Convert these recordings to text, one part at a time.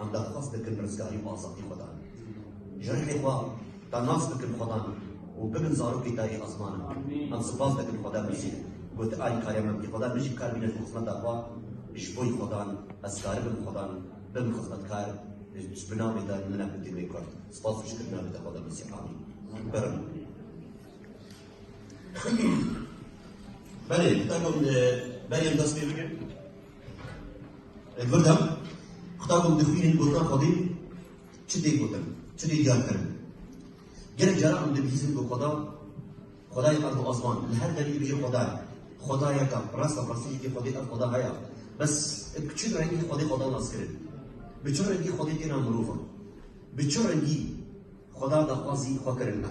Em daxwaz dikin rizgarî û azadî xwe dan. Ji rihê xwe da nas bikin xwe dan û bibin zarokê dayî Azman in. Em sipas dikin xweda bijî. Got Alîkariya Memtî Xweda bijî kar bîne ji xizmeta xwe ji bo xwe dan. Ez karibim xwe dan bibim xizmetkar ji bi navê te min e bi dîmê kurd. Sipas û şikir navê te xweda bijî. Amîn. Birim. Belê, bi te got berê em dest pê bikin. Li vir de qutakon dixwînin gotina Xwedê çi tê gotin, çi tê diyarkirin. Gelek caran em dibihîzin ku Xweda Xwedayê erd û asman li her demê bê Xweda ye. Xweda yek e, rast e, rastî yekê Xwedê ev Xweda heye. Bes bi çi rengî Xwedê Xweda nas kirin? Bi çi rengî Xwedê têna mirovan? Bi çi rengî Xweda daxwazî xwe kirin me?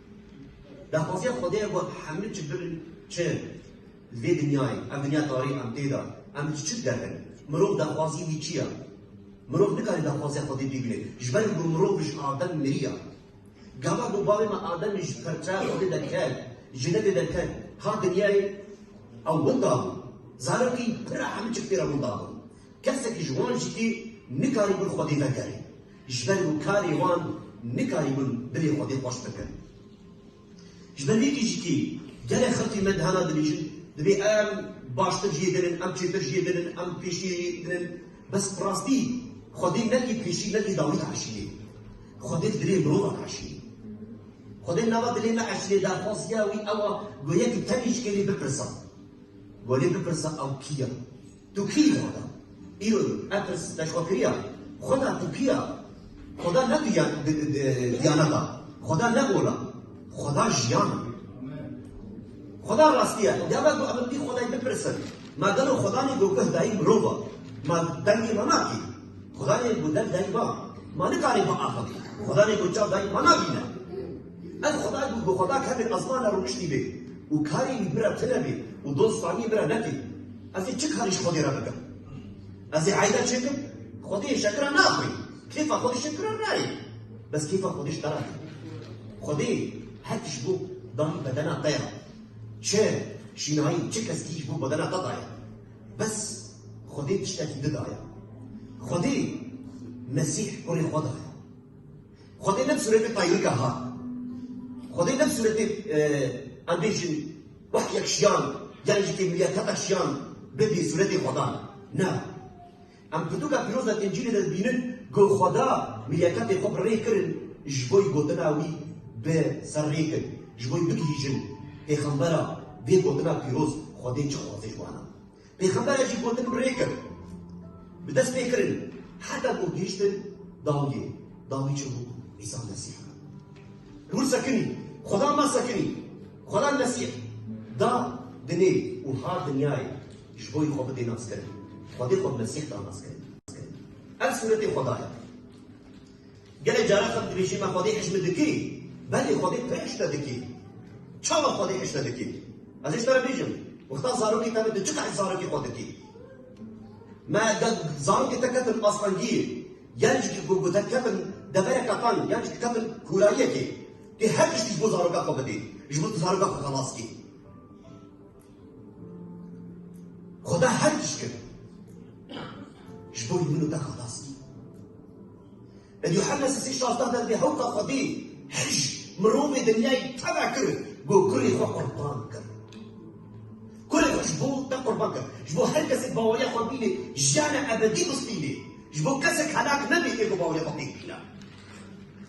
Daxwaziya Xwedê ye ku hemû çi birin çi li vê dinyayê, ev dinya tarî em tê de, em li çi dideqin? Mirov daxwaziyê wî çi ye? Mirov nikare daxwaziya Xwedê bîbîne. Ji ber ku mirov ji Adem miriye. Gava ku bavê me Adem jî ji parçeya Xwedê de ket, jenetê de ket, hat dinyayê, ew winda bû. Zarokên pir e hemû çi pê re winda bûn. Kesekî ji wan jî tê nikarî gul Xwedê vekere. Ji ber ku karê wan nikarîbûn binê Xwedê xweş bikin. Ji ber vê kêjikê gelek xelkê me dihana dibêjin, Divê em baştir jiyê binin, em çêtir jiyê binin, em pêşî binin. Bes bi rastî Xwedê ne kê pêşî ne kê dawî diaşînê. Xwedê dilê mirova diaşînê. Xwedê nava dilê me aşînê derxwaz ya wî ew a ku yekî tenê ji kê lê bipirsa. Welê bipirsa ew kî ya? Tu kî yî Xweda? Îro yî Epirs peşxwekiriya Xweda tu kî ya? Xweda ne di diyanet a. Xweda ne ola. Xweda jiyan e. Xweda rastî ye. Ya ve ku em li pî Xwedayî bipirsin, Ma gelo Xweda nê ku guh dayî mirov a? Ma dengê ma nakî? Xweda nê ku dev dayî ba? Ma nikarî biaxivî? Xweda nê ku çav dayî ma nabîne? Ev Xweda ku bi Xweda kevê ezmana rûniştî bê û karê wî bira tune bê û doz faniyê bira netê. Ez ê çi karî ji Xwedê re bikim? Ez ê eyda çêkim? Xwedê yê şekira naxwî. Kêfa Xwedê şekira nayê. Bes kêfa Xwedê ji te re tê. Xwedê her tişt bo dan bedena te ya. Çi şînayî, çi keskî ji bo bedena te daye. Bes Xwedê tiştekî didaye. Xwedê Mesîh Kurê xwe daye. Xwedê ne bi sûretê tayrika hat. Xwedê ne bi sûretê em bêjin wek yek şiyan yanî jî têmiliya teta şiyan bibî sûretê xweda. Na. Em pirtûka pîroz a Încîlê de dibînin ku xweda milyakatê xwe bi rê kirin ji bo gotina wî bi ser rê kin. Ji bo bigihîjin pêxembera vê gotina pîroz xwedê çi dixwaze ji wan. Pêxembere jî gotin bi rê kir, bi dest pê kirin heta ku gihîştin dawiyê. Dawî çi bû? Îsa Mesîh. Hûr sekinî, Xweda ma sekinî, Xweda Mesîh da dinê û hat dinyayê ji bo xwe bidê naskirin. Xwedê xwe bi Mesîh da naskirin. Ev sûretê Xweda ye. Gelek caran xelk dibêjin me xwedî hişmit dikî, belê xwedî pê hişte dikî. Çawa xwedî hişte dikî? Ez ê ji te re bêjim, wexta zarokê te be tu çi qehî zarokê xwe dikî? Me gel zarokê te ketin astengiyê, yan jî ku gotin ketin devereke teng, yan jî ketin kûrayiyekê, tu her tiştî ji bo zaroka xwe bidî, ji bo tu zaroka xwe xelas kî. Xweda her tişt kir. Ji bo min û te xelas kir. Li Yuhanna sesî şazdeh de dê hewta Xwedî her ji mirovê dinyayê tena kir bo kurê xwe qurban kir. Kurê xwe ji bo te qurban kir. Ji bo her kesek baweriya xwe bînê jiyana ebedî bistînê. Ji bo kesek helak nebê ê ku baweriya xwe pê bîna.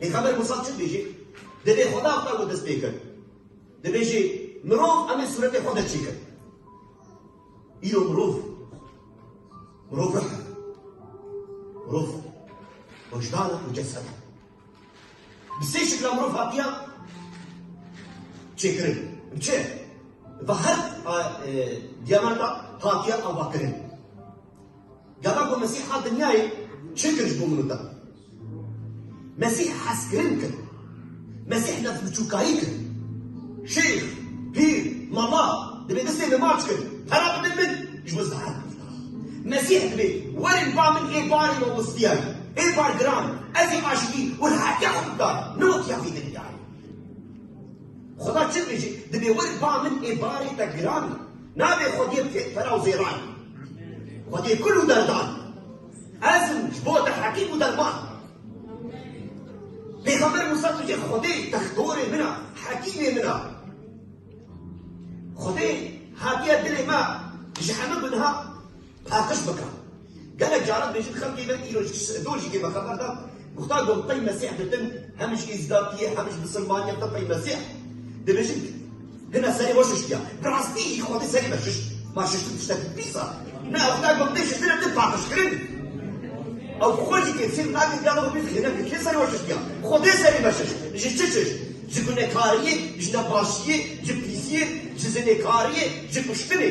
Pêxember Musa çi dibêje? Divê Xweda xwe û dest pê kir. Dibêje mirov em ê sûretê xwe de çêkir. Îro mirov, mirov ruh e. Mirov wijdan û cesed e. Bi sê şikla mirov hatiya çêkirin. Bi çi? Bi her diyamata hatiya avakirin. Gava ku Mesîh hat dinyayê çi kir ji bo min û te? Mesîh hezkirin kir. Mesîh nefsbiçûkayî kir. Şêx, pîr, mala divê destê min maç kirin. Pera bidin min ji bo zehra bikim. Mesîh divê werin ba min ê barê min westiyayî. Ê bar giran ez ê aştî û rehetiya xwe bida ne wek ya vî dinyayê. Xweda çi dibêje? Divê werin ba min ê barê te giran. Navê Xwediyê bike fera û zêran. Xwediyê kul û derdan. Ez im ji bo te hekîm û derman. Pêxember Mûsa tuje Xwedê textorê min a, hekîmê min a. Xwedê hatiye dilê me ji hemû bi niha paqij bike. Gelek caran dibêjin xelkê me îro ji dojikê ve xeber da Muxtar got pey Mesîh ditin hem ji Îzdakî ye hem ji Misilmanî ye te pey Mesîh dibêjin hina serê we şiştiya. Bi rastî jî Xwedê serê me şişt. Ma şiştin tiştekî pîs a. Ne ew ne got tê şiştin e tê paqijkirin. Ew xwe jî têfsîr nake giya min bî xêne ke kê serê we şiştiya. Xwedê serê me şişt. Ji çi şişt? Ji gunekariyê, ji nebaşiyê, ji pîsiyê, ji zinêkariyê, ji kuştinê.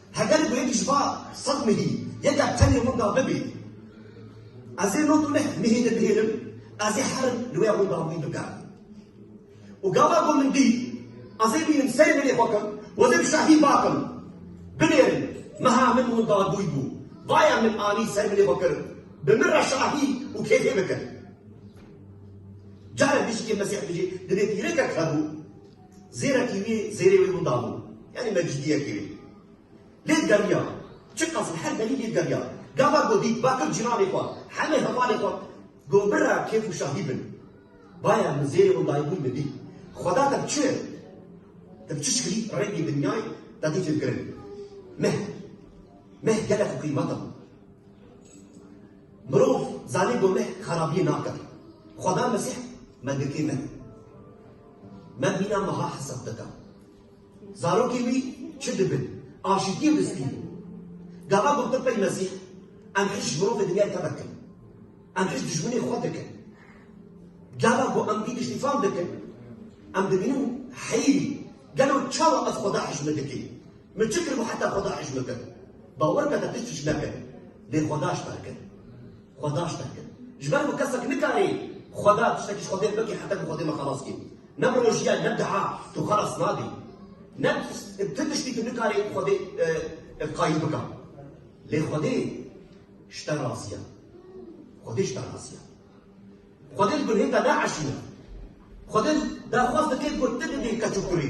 Heger ku yekî ji va sed mihî yekek tenê winda bibî, ez ê no tu neh mihî dibihêlim, ez ê herin li wê winda wî bigerim. Û gava ku min dît, ez ê bînim serê binê xwe kim, wezê bi şahî bakim, binêrin, meha min winda dûy bû, vaya min anî ser binê xwe kir, bi min re şahî û kêfê bikir. Carek dişikê Mesîh dijî, divê pîrekek hebû. Zêrekî wî zêrê wî bû dano. Yanî mecidiyekî wî. Lêd geriya. Çi qasî her demî lêd geriya. Gava ku dît bakir cîranê xwe, hemê hevalê xwe got birra kêf û şahî bin. Baya min zêrê wan dayîbûn min dît. Xweda te bi çi? Te bi çi şikilî rengê dinyayê te dî fêmkirin. Meh. Meh gelek xwe qîmet e. Mirov zanî ku meh xerabiyê nake. Xweda Mesîh me girtî meh. Me mîna meha hesab dida. Zarokên wî çi dibin? Aşîtiyê bi spî bû. Gava got Pey Mesîh, Em hişt ji mirovê dinyayê tevek in. Em hişt dijminên xwe dikin. Gava ku em vî tiştî fam dikin, em dibînin heyrî, gelo çawa ez xweda hişt min dikî? Min çi kir ku heta xweda hişt min kir? Bawer bike te tişt hişt nekir, lê xweda hişt te kir. Xweda tiştek kir. Ji ber ku kesek nikarî Xweda tiştekî ji xwe fêr bike heta ku Xwedê me xelas kî. Ne bi rojiyayê ne bi deha tu xelas nabî. Ne bi tu tiştî tu nikarî Xwedê ev qayîl bika. Lê Xwedê ji te razî ye. Xwedê ji te razî ye. Xwedê li gunhê te naeşîne. Xwedê daxwaz dike ku tu bibî keç û kurî.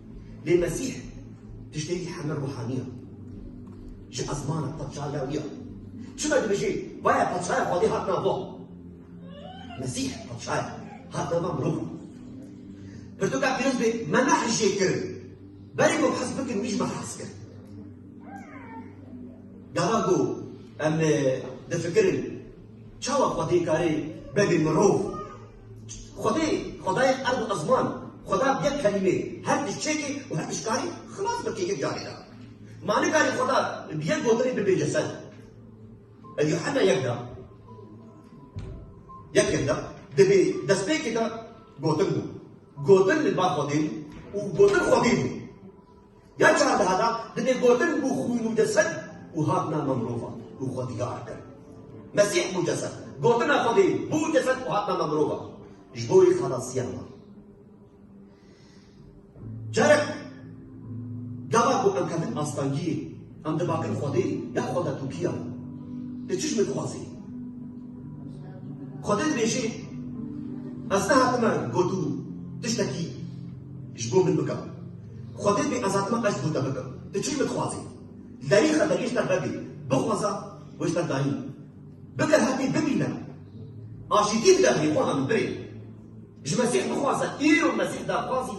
Lê Mesîh tiştekî heme ruhanî ye. Ji ezmana Paşa Lewî ye. Çima dibêjî Baya Paşaya Xwedê hat nava. Mesîh Paşa ye, hat nava mirov e. Pirtûka pîroz bê me ne hijê kirin. Berê ku hez bikin wî ji me hez kir. Gava ku em difikirin çawa Xwedê karê bebe mirov. Xwedê, xwedayê erd û ezman, xweda bi yek kelîmê her tişt çêkê û her tişt karî xilas bike yek carê de. Ma nikarî xweda bi yek gotinê bibêje ser ev ya heme yek de. Yekên de divê destpêkê de gotin bû. Gotin li ba xwedê bû û gotin xwedî bû. Ya çardeha de divê gotin bû xwîn û cised û hat nama mirovan û xwe diyar kir. Mesîh bû cised. Gotina Xwedê bû cised û hat nama mirovan ji bo wê xelasiya wan. Carek gava ku em kevin astangiyê em dibakin Xwedê ya xwe detûkiya tu çi ji min dixwazî? Xwedê dibêje ez nehatime ku tu tiştekî ji bo min bika. Xwedê bê ezatma qeşt bû te bikim. Tu çi dixwazî? Zerîxe te gişta vebî, bixwaza wişta dayî. Bikir hetê bibîne. Aşîtî bide birî xwe hemû birê. Ji Mesîh bixwaze îro Mesîh daxwazî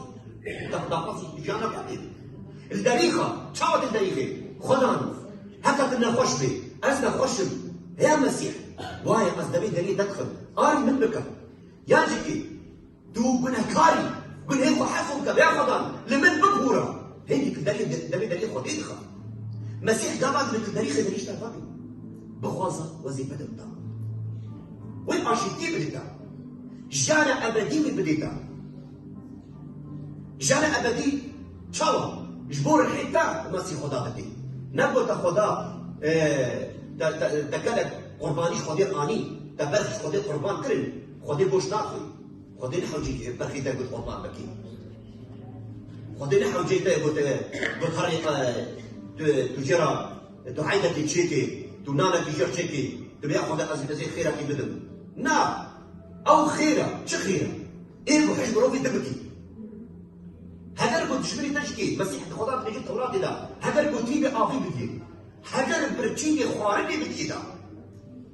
daxwazî jiyana xwe bê. Li derîxa çawa tu li derîxê xwe dan heta tu nexweş bê. Ez nexweş im. Hêya Mesîh waye ez devê derî te dixim. Arî min bike. Ya cikî. Tu binekar î. Gunhên xwe hef û tebeya xwe dan. Li min bibûra. Hê di kilderê de devê deriyê xwe tê dixa. Mesîh gava di kilderî xêderî ji te va bî. Bixwaza wezîfe te bida. Wê aşîtiyê bidê te. Jiyana ebedî wê bidê te. Jiyana ebedî çawa? Ji bo rihê te Mesîh xwe da bidê. Ne ku te xweda te gelek qurbanî ji xwedê anî, te berf ji xwedê qurban kirin. Xwedê boş naxwî. Xwedê li hewcî te berxî te got qurban bikî. Xwedê li hewcê te got got herî tu jê re duaynekî çêkê, tu nanekî jê re çêkî, tu bêya Xwedê ez ez ê xêrekî bidim. Na, ew xêr e, çi xêr e? Êrî ku hişk mirovî din bikî. Heger ku dijminê te jî kê, Mesîh di Xweda dibêje Tewratê de, heger ku tîbê avî bikî, heger birçînê xwarinê bikî da.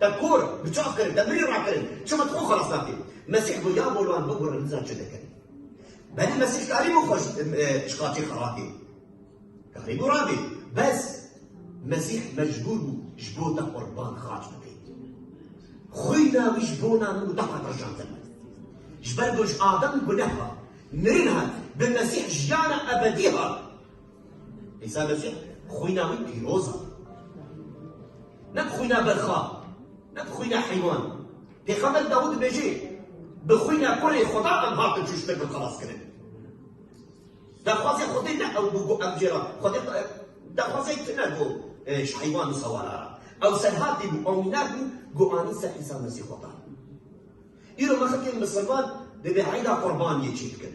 Te kor, biçav kirin, te mirî rakirin, çima tu xwe xelas nakî? Mesîh got, Ya bor wan, bigurin niza çi dikin. Belê Mesîh karî bû xwe ji qatî xelatî. Karî bû rabî. Bes Mesîh mecbûr bû ji bo te qurban xaç bibî. Xwîna wî ji bona min û te hat reşandin. Ji ber ku ji Adam guneh hat, mirin hat, bi Mesîh jiyana ebedî hat. Îsa Mesîh xwîna wî pîroz a. Ne bi xwîna berxa, ne bi xwîna heywan. Pêxember Dawûd dibêje, Bi xwîna kurê Xweda em hatin çûştin bin xelaskirin. Daxwazê Xwedê ne ew bû ku em jê re Xwedê daxwazek tune ku ji heywan û sewala re. Ew serhatî bû, ew mînak bû ku anî ser Îsa Mesîh Xweda. Îro me xelkên misilman divê eyda qurbaniyê çêbikin.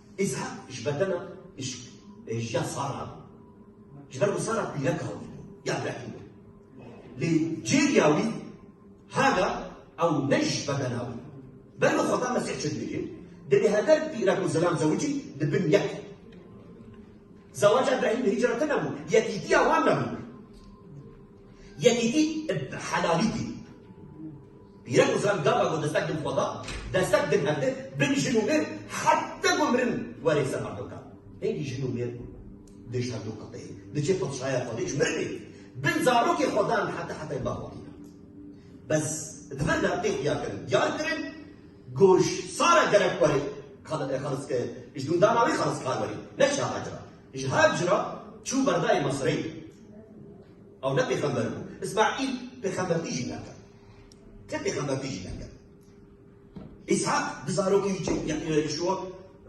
Îshak ji bedena îşk ê ji ya Sara bû. Ji ber ku Sara pîreka wî bû, ya Rebî bû. Lê cêriya wî Hagar ew ne ji bedena wî. Ber li xweta Mesîh çi dibêje? Divê hever pîrek û zilam zewicî di bin yek. Zewaca Îbrahîm hîcreti nebû, yekîtiya wan nebû. Yekîtî ib helalî tî. Pîre ku ziran gava got destek din xwe da, destek din hev dir, bin jin û mêr heta ku mirin werê ser Erdogan. Hêngî jin û mêr ku dê ji hev du qeteyê diçê paşaya xwe dê ji mirinê bin zarokê xwe dan heta hetayê bava tî. Bes di vir de tê xuya kirin, diyar kirin ku ji sara gerek werê xelis ji dundana wê xeliskar werê ne şaha cira. Ji Hacr re çû berdayê Mesirê. Ew ne pêxember bû. Îsmaîl pêxembertî jî nekir. Ti pêxembertî jî nekir. Îshak bi zarokê wî çê bû. Yîşûa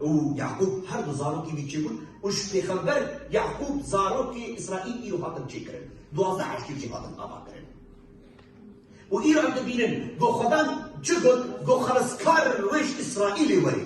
û Yaqûb her du zarokê wî çê bûn û ji pêxember Yaqûb zarokê Îsraîl îro hatin çêkirin. Duwazdeh eşkî jî hatin avakirin. Û îro em dibînin ku Xwedan çi got, Ku xeliskar li wêj Îsraîlê werê.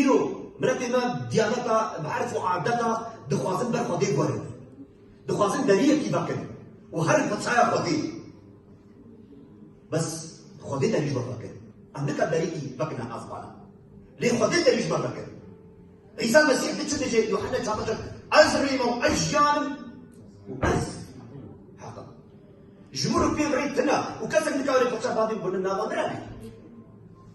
Îro miletê me diyaneta bi erf û adeta dixwazin ber xwe dê guherînin. Dixwazin deriyekî vekin û herin bi çaya xwe dê. Bes xwe dê derî ji we vekin. Em nika deriyî vekine azbana. Lê xwe dê derî ji me vekin. Îsa Mesîh di çi dije? Yuhane çape kir Ez rîm û ez jiyan im û ez heq im. Ji min re pê re tune û kesek nikare pirsa bavê min nava min re bî.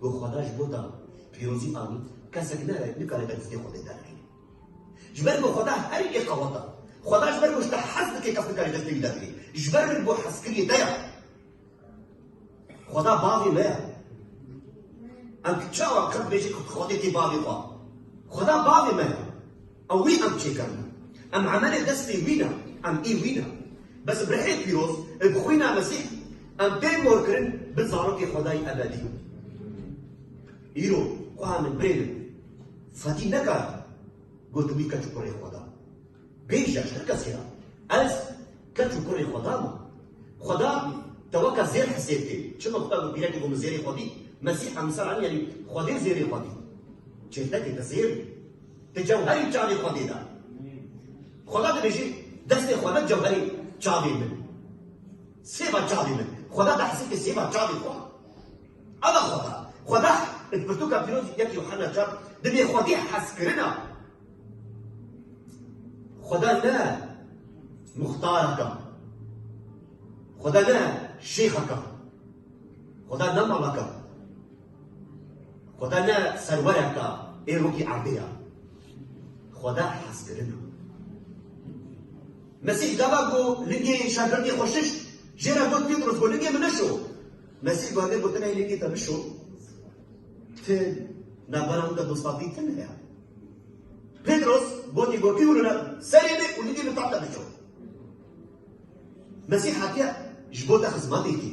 Ku Xweda ji bo dan, pîrozî anî, kesek nere nikare berîzgê Xwedê derkeve. Ji ber ku Xweda herî yê qewet e. Xweda ji ber ku ji te hez dike kes nikare destê wî derkeve. Ji ber ku hezkiriyê te ye. Xweda bavê me ye. Em çawa qet bêjin ku Xwedê tê bavê xwe. Xweda bavê me ye. Ew wî em çêker bû. Em emelê destê wî ne, em ê wî ne. Bes bi rihê pîroz ê bi xwîna Mesîh em pê gor kirin bi zarokê Xwedayî ebedî. Îro xweha min birê min Fadî nekar got wî keç û kurê Xweda. Bêj ya ji tir kesî re ez keç û kurê Xweda me. Xweda te weke zêr hesêb kê. Çima ku ev bi pîrekê ku min zêrê xwedî, Mesîh em li ser anî yanî Xwedê zêrê xwedî. Çêltekê te zêr bû. Di cewherî çavê xwedê de. Xweda dibêjî destê xwe ne cewherî çavê min. Sêva çavê min. Xweda di hesîfê sêva çavê xwe. Ava xweda. Xweda di pirtûka pîrozî yek Yuhanna çar di bêxwedî hezkirina. Xweda ne muxtareka. Xweda ne şêxeka. Xweda ne malaka. Xweda ne serwereka ê rokî erdê ya. Xweda hezkirin e. Mesîh gava ku lingê şerbirdî xwe şişt, jê re got Pîtros ku lingê min nişo. Mesîh gavê gotin hey lingê te bişo, ti navbera min de dostatî tune ya. Pîtros gotî ku kî hûnine serê bê û lingê min tahta bişo. Mesîh hatiye ji bo te xizmetê kî.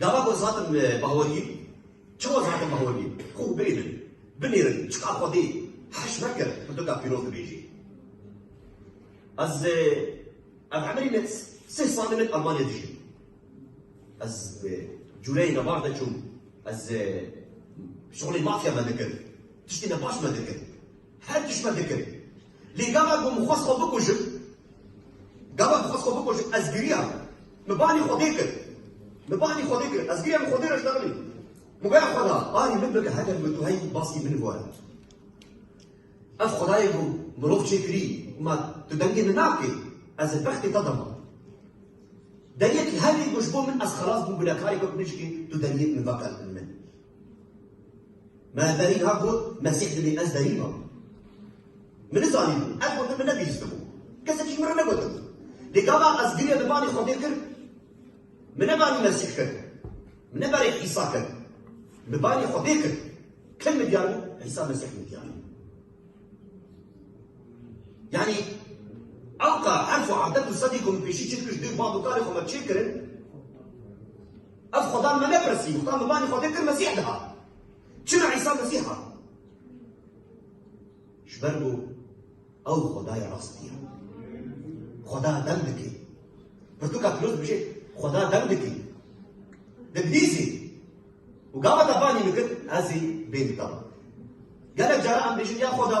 Gava ku zatim bahorî, çima zatim bahorî? Xwe bêrin, binêrin, çiqa xwedî heş nekir bi tu ka pîroz dibêjî. Ez ev emirî min sih salî min Almanya dijîm. Ez cûreyê me baş diçûm, ez şixulê mafya me dikim, tiştê me baş me dikim. Her tişt me dikir. Lê gava ku min xwest xwe bikujim, gava ku xwest xwe bikujim ez giriya. Min banî Xwedê kir. Min banî Xwedê kir. Ez giriya min Xwedê re ji dagirî. Min goya Xweda barî min bike heger min tu heyî baskî min bibare. Ev Xwedayê ku mirov çêkirî ma tu dengê min nakî ez li bextê te de ma. Deryekî herî ku ji bo min ez xelas bûm binekarê ku tu bijikî tu deryê min veke li bin min. Me berî hat got Mesîh dibê ez berî bam. Min nizanîbû, ev gotin min nebîstibû. Kesekî min re negotin. Lê gava ez girê li malê Xwedê kir, min ne barî Mesîh kir, min ne barî Îsa kir, min barî Xwedê kir. Kil min diyar bû, Îsa Mesîh min diyar bû. Yani elqa herf û adet û sedî ku min pêşî çêdikiş dê û bavûkarê xwe me çêkirin, Ev Xwedan me nepirsî, Xwedan bi banî Xwedê kir Mesîh dihat. Çima Îsa Mesîh hat? Ji ber ku ew Xwedayê rastî ye. Xweda dem dike. Pirtûka pîroz dibêje, Xweda dem dike. Dibihîzî. Û gava te banî min kir, ez ê bê min te. Gelek caran em dibêjin ya Xweda,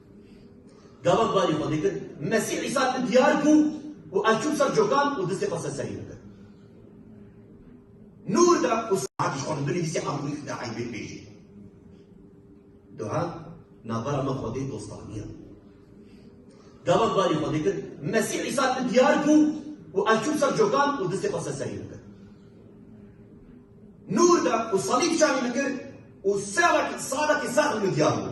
Galan barî xwe dikir, Mesîh Îsa li min diyar bû û ez çûm ser cokan û distê xwe ser serî min kir. Nûr da û saetî xwe li binê distê Amûrî xida eybê bêjî. Duha navbera me xwedê dostaniya. Galan barî xwe dikir, Mesîh Îsa li min diyar bû û ez çûm ser cokan û distê xwe ser serî min kir. Nûr da û salîb şanî min kir û salekî salekî sax li min diyar bû.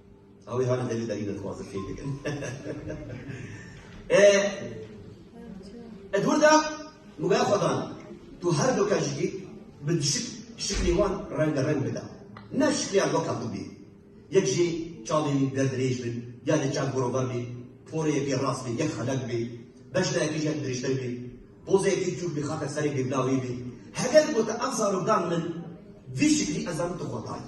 Awê hane deli deli de xwazir key dikin. E Edward da mugaya xwadan tu her do kajiki bi düşük şikli wan reng reng bida. Ne şikliya loka tu bi. Yek jî çavê wî berdirêj bin, ya de çav gorobar bî, porê yekê rast bî, yek xelek bî, beş de yekî jek dirêjtir bî, pozê yekî çûk bî, xatir serê bî bila wî bî. Heger gote ev zarok dan min, vî şiklî ez zanim tu xwe tayî.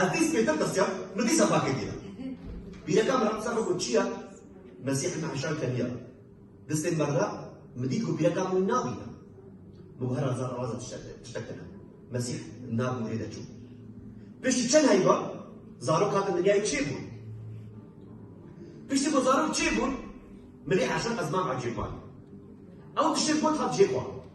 Ez dîs pêtir tirsiya, min dîsa farkê dîya. Bîreka min qisa xwe got çiya, Mesîhê me heşan keniya. Distên me re min dît ku bîreka min nabîne. Min got her azar raza tiştek tene. Mesîh nab û rê de çû. Piştî çend heyva zarok hatin dinyayê çê bûn. Piştî ku zarok çê bûn, milê heşan ez mam ecêb man. Ew tiştên got hat jê xwe.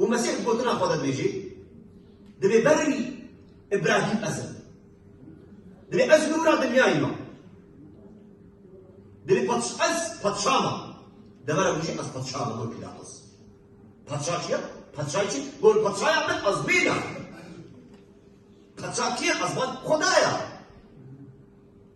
û Mesîh gotina xwe dibêjê, Divê berî Îbrahîm ez im. Divê ez nûra dinyayê me. Divê ez padşa me. Devera wî jî ez padşa me gor Pîlatos. Padşa çi ye? Padşayê çi? Gor padşaya min ez mêna. Padşa kî ye? Ez xwe Xwedaya.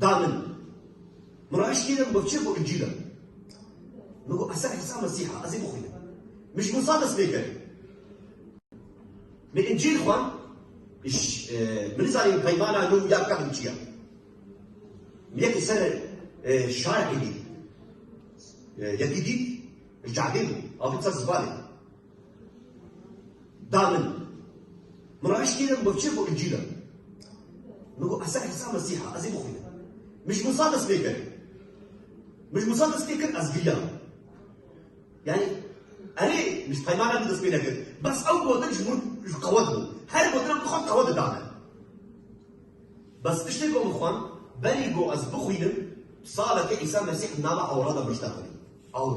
Da min. Min ra eşkî de bikçe ku incîl e. Min got Îsa Îsa Mesîh e, ez ê bixwînim. Min ji Mûsa dest pê kir. Min incîl xwend, min nizanîm peymana nû ya qedîm çi ye. Min yekê ser şarekê dît. Yekî dît, ji cadê bû, avê ser zibanê. da min. Min re eşkî min bikçe bo încîl e. Min got Îsa Îsa Mesîh e, ez ê bixwînim. Min ji Musa dest pê kir. Min ji Musa dest pê kir, ez giriya. Yani erê min ji peymana min dest pê nekir. Bes ew gotin ji min ji qewet bû. Her gotina min xwend qewet da min. Bes tiştê ku min xwend, berî ku ez bixwînim, saleke Îsa Mesîh nava ewra de min ji te xwînî. Ewr.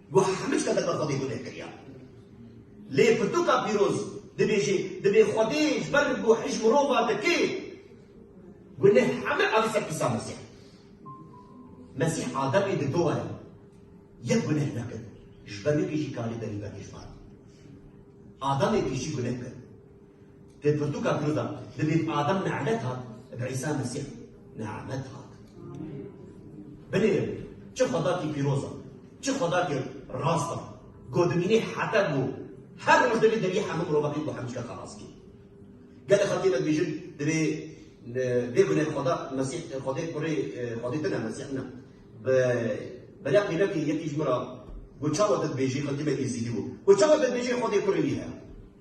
Guh hemû tiştan derba Xwedê gule kiriya. Lê pirtûka pîroz dibêje, dibê Xwedê ji ber guhê ji mirova dike. Gule hemû erê ser Îsa Mesîh. Mesîh a debê di do e. Yek guneh nekir. Ji ber wê kê jî karê berî veke ji van. Adamê pêşî guneh kir. Pê pirtûka Kurdan di bin Adam Ne'met hat, bi Îsa Mesîh Ne'met hat. Binêrin, çi xwedakî pîroz e, çi xwedakî rast e, ku dimînê heta ku her roj divê deriyê hemû mirovakî ku hemû xelas bî. Gelê xwe têde dibêjin divê bê gune xweda Mesîh xwedê kurê xwedê din e Mesîh ne. Bi beriya qîmekê yekî ji min re ku çawa te dibêjî xwe timekî zîdî bû. Ku çawa te dibêjî xwedê kurê wî heye.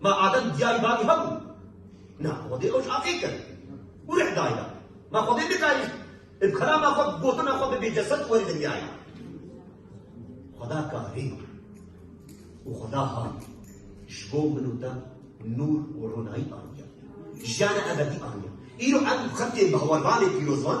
Ma Adem diyarî bavî hebû. Na Xwedê ew ji axê kir û rih dayî da. Ma Xwedê nikarî bi kelama xwe gotina xwe bibê cesed û werî dinyayê. Xweda karî û Xweda hay ji bo min û te nûr û ronayî aniye. Jiyana ebedî aniye. Îro em xelkê bi hewarvanê pîrozvan,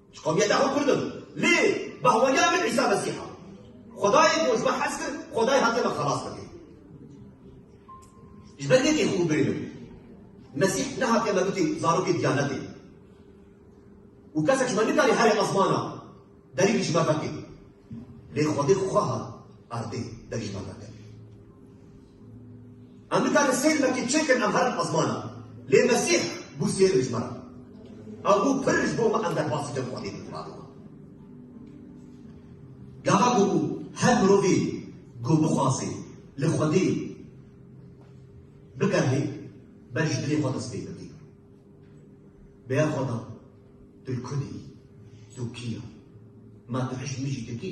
Ji qewmiyeta xwe Kurd im. Lê bahweriya min Îsa Mesîh a. Xwedayê ku ji me hez kir, Xwedayê hatiye me xelas bike. Ji ber vê têxû birînim. Mesîh nehatiye me bike zarokê diyanetê. Û kesek ji me nikare herê esmana derî ji me veke. Lê Xwedê xwe hat erdê derî ji me veke. Em nikarin sêr vekê çêkin em herin ezmana lê Mesîh bû sêr ji me re. Ew bû pir ji bo me em derbas bikin Xwedê bi Qurana we. Gava ku her mirovê ku bixwaze li Xwedê bigerî ber ji dilê xwe dest pê bike. Bi ya xwe de tu li ku dî? Tu kî ye? Ma tu hişt mijî tu kî?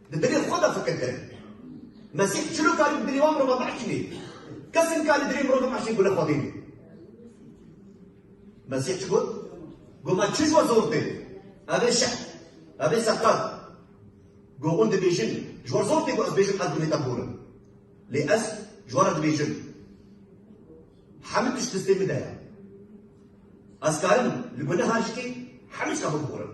Di dilê xwe de fikir kirin. Mesîh çilo karî bi dilê wan mirova biehkînê? Kes nikarî dilê mirovê meşîn gule xwe bînî. Mesîh çi got? Got me çi ji we zor tê? Ev ê şeh, ev ê seqet. Got hûn dibêjin, ji we zor tê ku ez bêjim ez binêta bor im. Lê ez ji we re dibêjim. Hemû tişt destê min de ye. Ez karim li guneha jikê hemû şeva bibor im.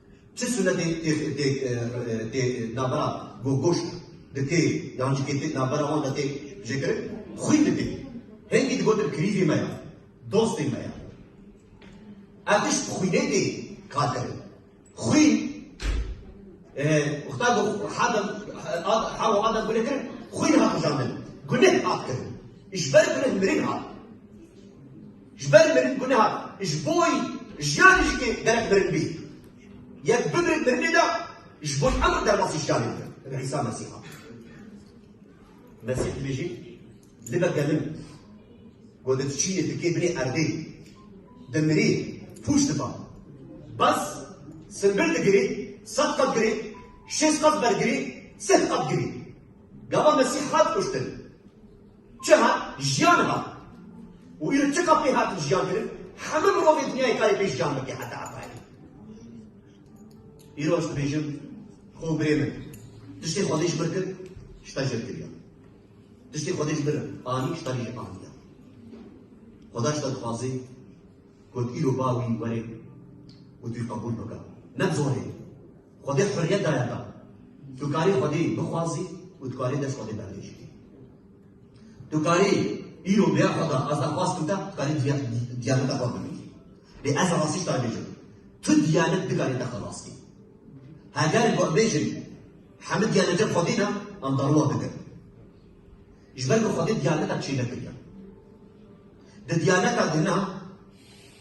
Çi sunetê tê navbera gogoş de tê yan jî tê navbera wan de tê jêkirin xwîn de tê. Hingî digotin kirîzê me ya, dostê me ya. Ev tişt bi xwînê tê kar kirin. Xwîn wexta ku Hewa û Adem guneh kirin, xwîn hat kujandin. Guneh hat kirin. Ji ber guneh mirin hat. Ji ber mirin bûne hat, ji bo wî jiyanê jikê derek mirin bî. Yek bimirin mirinê de ji bo hemû derbasî jiyanê bike. Bi Îsa Mesîh hat. Mesîh dibêjî, Libe gelim ku di diçînê dikê binê erdê, dimirî, pûç diba. Bes, simbir digirî, sed qat girî, şêst qat bergirî, sih qat girî. Gava Mesîh hat kuştin. Çi hat? Jiyan hat. Û îro çi ka pê hatin jiyan kirin? Hemû mirovên dinyayê karê pê jiyan bike heta Efraîmê. Îro ez dibêjim, xo birê min, tiştê Xwedê ji mir kir, ji te jê kiriya. Tiştê Xwedê ji mir anî, ji te jê aniya. Xweda ji te dixwaze got îro ba wî were û tu yî qebûl bike. Ne bi zorê, Xwedê huriyet daye te. Tu karî Xwedê bixwazî û tu karî dest Xwedê berdêj bikî. Tu karî îro bêya Xweda ez daxwazkim te, tu karî diyaneta xwe bimînî. Lê ez rastî te bêjim. Tu diyanet dikarî te xelas kî. Heger got bêjin hemû diyanetên Xwedê ne, em darowa bikin. Ji ber ku Xwedê diyaneta çê nekiriye. Di diyaneta din ne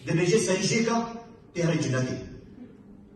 dibêje serî jêka tê herî cinekê.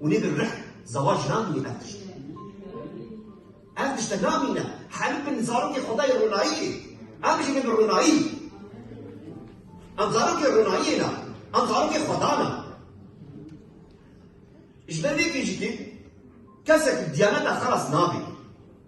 Hûnê bi rih zawac namînî ev tişt. Ev tişte namîne. Herî bin zarokê xwedayê ronayî yê. Em bijîne bi ronayî. Em zarokê ronayîyê ne. Em zarokê xweda ne. Ji ber vê pêncikê kesek diyaneta xelas nabê.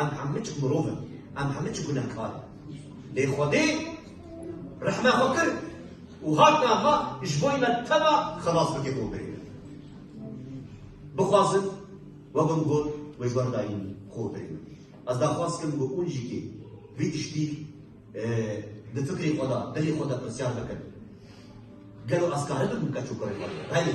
Em hemû çik mirov in, em hemû çik gunehkar in. Lê Xwedê rehma xwe kir û hat niha ji bo me teva xelas bike bo birê me. Bixwazin we bin got wê ber dayîn xwe birê me. Ez daxwaz dikim ku hûn jî kê vî tiştî di fikrê xwe de, dilê xwe de pirsyar bikin. Gelo ez karibikim keç û kurê xwe bibînim? Belê.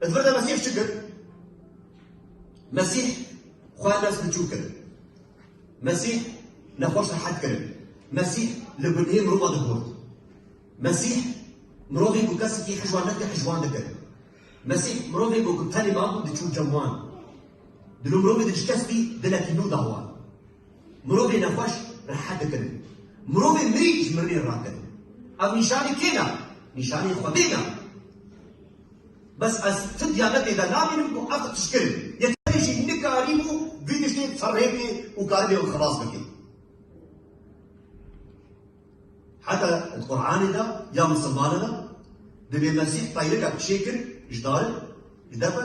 Di vir de Mesîh çi kir? Mesîh xwe nes biçûk kir. Mesîh nexweş rehet kirin. Mesîh li gunehê mirova dibûrt. Mesîh mirovê ku kesekî hijwan neke hijwan dikir. Mesîh mirovê ku ku tenê mabû diçû cem wan. Di nû mirovê de ji kes bî dilekî nû da wan. Mirovê nexweş rehet dikin. Mirovê mirî ji mirinê rakin. Ev nîşanî kê da? Nîşanî Xwedê da. Bes ez ti diyabetê de nabînim ku ev tişkir in. Yeterê jî nikarîbû vî tiştê ferrêbê û karîbê ew xelas bike. Heta di Quranê de ya misilmane de divê Mesîh peyreke pişê kir ji darin, ji depe,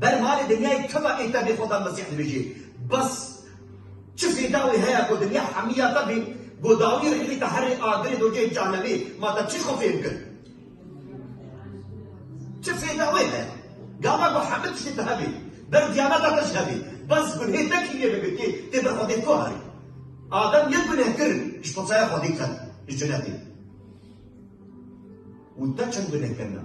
Ber malê dinyayê tima ê te bê xweda Mesîh dibêjê. Bes çi fêda wê heye ku dinya hemîya te bê ku dawî rîlê te herê agirê do cihê cehenemê ma te çi xwe fêhm kir? Çi fêda wê heye? Gava ku hemî tiştê te hebê, ber diyaneta te jî hebê, bes gunhê te kî yê bibê tê tê ber xwedê ku herê. Adem yek guneh kir ji potsaya xwedê ket ji cinetê. Û te çend guneh kirina?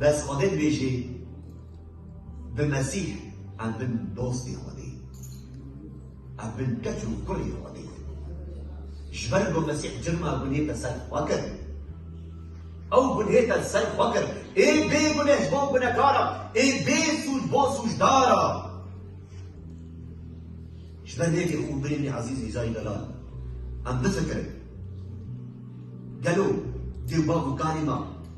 Bes Xwedê dibêjê bi Mesîh em bin dostê Xwedê, em bin keç û kurê Xwedê. Ji ber ku Mesîh cirma gunê te ser xwe kir, ew gunê te ser xwe kir. Ê bêguneh ji bo gunehkara, ê bêsûd ji bo sûcdara. Ji ber vê jî xûbirênê ezîz Îzayî Delal, em bifikirin, Gelo dê bav û karê me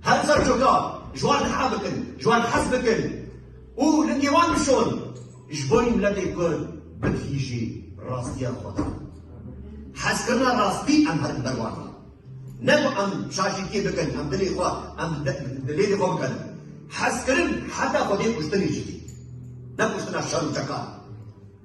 Her ser coka ji wan diha bikin, ji wan hez bikin û lingê wan bişon ji bo wî miletê Kurd bigihîjî rastiya xwe de. Hezkirina rastî em herin ber wan e. Ne ku em şaşîtiyê bikin, em dilê xwe em di lêlê xwe bikerin. Hezkirin heta xwedê kuştinê jî tê. Ne kuştina şer û çeka.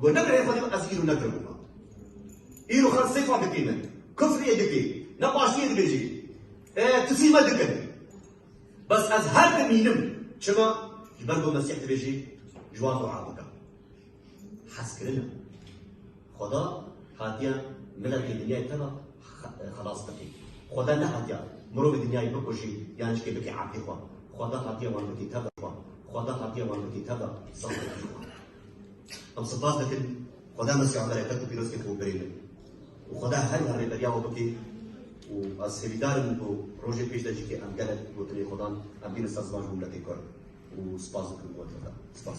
Got ne birayê xwe dîm ez îro nekirim wiha. Îro xelk sêfa dikê min, kufrê dikê, ne paştiyê dibêjê. E tu çî me dikin. Bes ez her dimînim. Çima? Ji ber ku Mesîh dibêjê ji wan dua bike. Hezkirin e. Xweda hatiye miletê dinyayê te ve xelas bikê. Xweda nehatiye mirovê dinyayê bikujê yan jikê bikê ebdê xwe. Xweda hatiye wan bikê tevbe xwe. Xweda hatiye wan bikê tevbe saziyê xwe. Em spas dikin Xweda mezgê û bereket û pîrozkên xwe birê bê û Xweda her wiha rêberiya we bike û ez hêvîdar im ku rojê pêş de jî ke em gelek gotinên xwe dan em bînin ser ziman ji bo miletê kurd û spas dikim bo tevî. Spas.